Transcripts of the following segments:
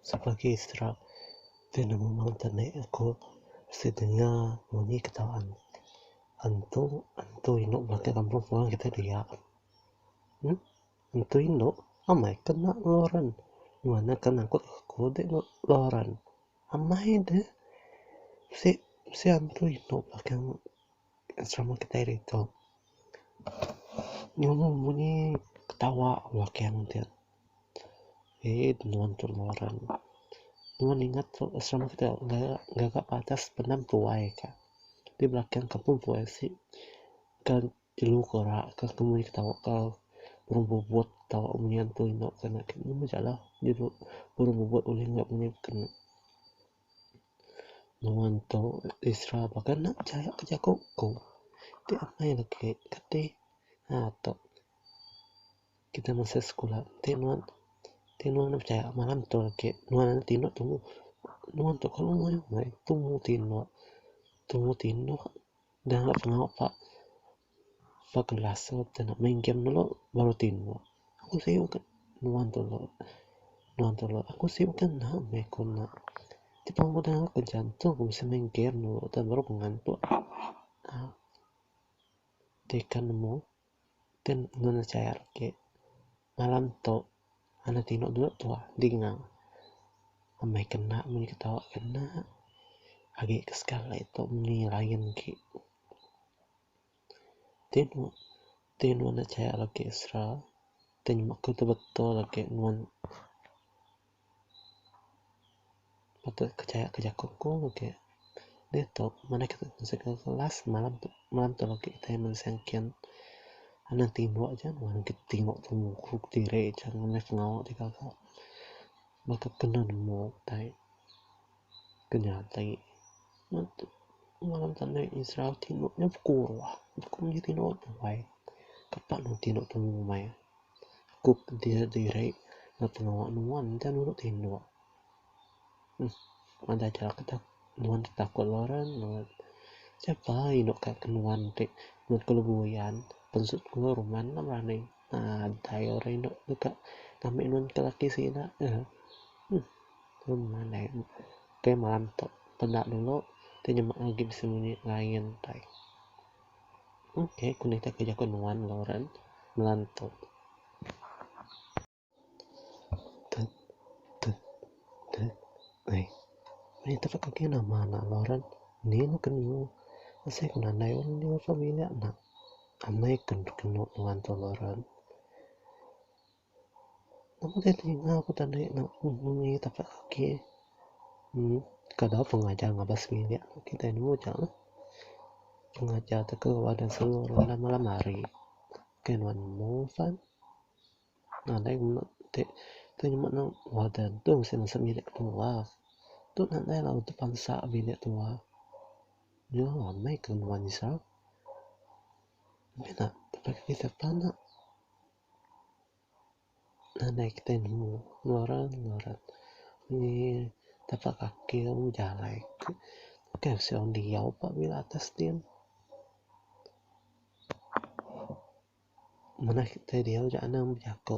Sebagi sera ti nemu mountain ni aku mesti denga munyi kitaan antu antu inu bala ti kampung puan kitai dia emm antu inu amai ke enda ngeluran ngena ke nangkut aku enda ngeluran amai deh si si antu inu pah ke. serama kitai ari ito nyuhu munyi ketawa wakang ti hei nuan tu ngeran nuan ingat tu serama kitai ngaga padas benam tuai ka ti belakang kampung tuai si kan jelu ka ora ka temu aja ketawa ka burung bubut ketawa munyi antu eno ka nya tu meh jaleh burung bubut ulih nya munyi ka nya. Nuan tu Isra baka anak jaya ke jaku ku ti amai agi keti aaa tok kita masa sekula ti nuan ti nuan enda pechaya malam tu agi nuan enda tinu tumu nuan tu kelu meh meh tumu tinu tumu tinu dah pengawa pa. Ba kelas tu kita enda main game dulu baru ti nuan aku sibuk aku nuan tu lok nuan tu lok aku sibuk ke enda meh aku enda ti pun aku tengah kerja tu ku bisi main game dulu tu baru ku ngantuk aaa ti kan nemu kan nuan enda chaya agi malam tu anak tinu dulu tu dinga amai ke enda meng ke tau ke enda agi ke sekali tu mengini lain agi. Ti nuan, ti nuan enda chayak lagi extra ti nyema aku ti betul agi nuan patut ke chayak ke jaku ku agi diatu mene kitai bisi ke kelas malam tu malam tu agi kitai mende sengken anang timbu aja nuan ke timbu tu mukuk diri aja meh pengawa ti gaga baka kena nemu kitai. Ke nya tai ngereja neg Israel ti nut nya ku ruah ku nyi ti nut wai kepa nut ti nut temu umai ku diri diri neg pengawa nuan nta nurut tinduk uhh nadai ja ketak nuan takut Lauren nut sapa indu ka ke nuan ti nut ku lebu uyan pensut ku ruman enda berani nadai orang indu deka ngambek nuan ke laki sida uhh. Ke malam tu peda dulu ti nyema agi besemunyi lain tai. Ok ku nitih ke jaku nuan Lauren malam tu. Tut tut tut ai. Meh ito pun agi nama ne Lauren. Nih ne ke nemu asai ku nadai wang nya familiar nya. Amai ke nemu nuan tu Lauren. Nama deh telinga ku tadi nya bunyi tapak kaki uhh kada pun ngajar ngabas bilik aku kitai anu aja lah pengajar ti keluar dari sungguh malam malam hari kai nuan move kan nadai mene ti tu nyuba nang wadan tu mesti nesep bilik ketua tu nadai lah udah bansa bilik ketua nya ramai ke nuan nyusah mih nak tapak kaki sapa nak. Nadai kitai nemu ngeran ngeran ni tapak kaki lalu jalai ke kai mesti orang diau pa mila atas ti ne. Manah kitai diau ja anang bejaku.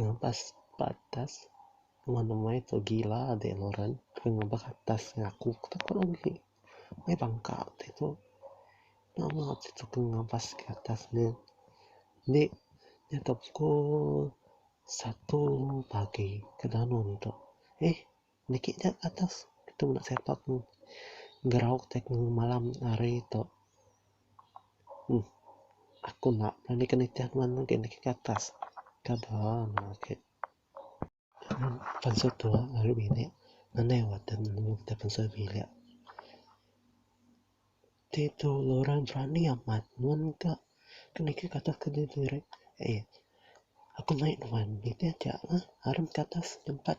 Ngampas ba atas nengah nemai tu gila deh Lauren ke ngempa atas ngaku ke tau kau agi meh bangka ti tu nama ti tu ke ngampas ke atas ne ende nya tu pukul satu pagi ke danu ne tu eh. Niki ja ke atas tu meda siapa pun gerau tang malam hari tu uhh aku enda berani ke nitih nuan agi niki ke atas kada meh agi pansut tua ari bini anai waten nemu kita pansut bilik ti tu orang berani amat nuan ka ke niki ke atas ke diri diri aii aku nae nuan nitih ja lah arun ke atas tempat.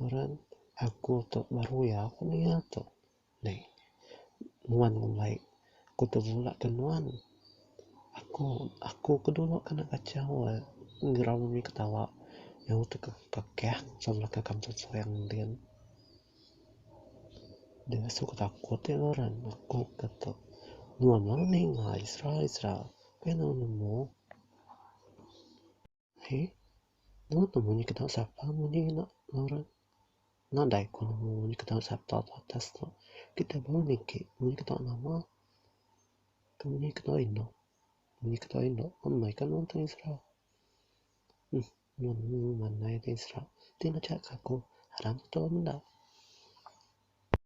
Ngaran aku tu Maruya ku nia tu. Neh nuan ngembai ku tebula ke nuan. Aku aku ke dulu kena kachau ngerau mih ketawa nyau tu ke kekeh ke belakang kampung Serang din. Deh asu ke takut nya ngaran aku ke tu. Nuan meh ninga isra isra pia nuan nemu. He. Nuan nemu nya ketawa sapa ngundi nya enda ngeran. Nadai ku nemu nya ketawa sapa ba atas tu. Kitai baru niki nemu nya ketawa nama. Temu nya ketawa indu. Nemu nya ketawa indu pun meh ka nuan tanya sera. Uhm nuan nemu mandai tanya sera. Ti ngancak ka aku. Harang ketua menda.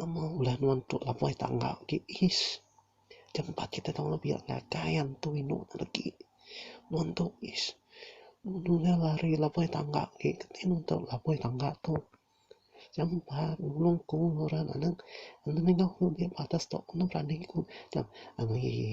Nama ulah nuan tu labai tangga agi ish. Jangan ba kita tau lebih ngagai antu inu ne legi. Nuan tu ish. Nunu nya lari labai tangga agi keti nuan tau labai tangga tu. Jangan ba nulung ku orang anang anu mingau ku agi batas tu anu berani ku. Anu ye ye.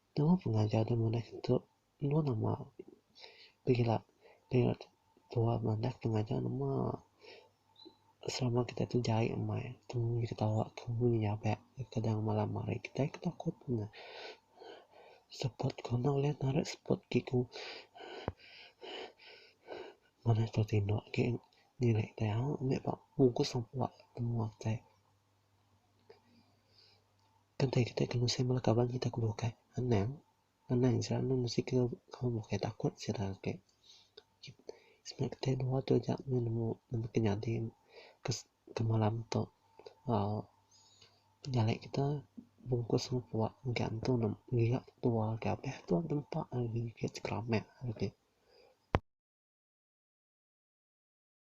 Nama pengajar deh manah tu enda nama pila pila tuah manah pengajar nama selama kita tu jai amai temu mih ketawa temu mih nyabat kadang malam hari kitai ke takut ne seput ku enda ulih narit seput ti ku manah tu tindok ke nilai nya meh ba mungkus sampua menua kitai. Kentai kitai ke ngusung bala kaban kitai ke bukai anang anang sida anang mesti ke kaul bukai takut sida agi sebab kitai dua tu aja meh nemu nemu ke nyadi ke malam tu uhh pejalai kita bungkus mupuk engka antu ne ngelia ketua ke abeh ketua ke nempa agi ke chekaramit agi.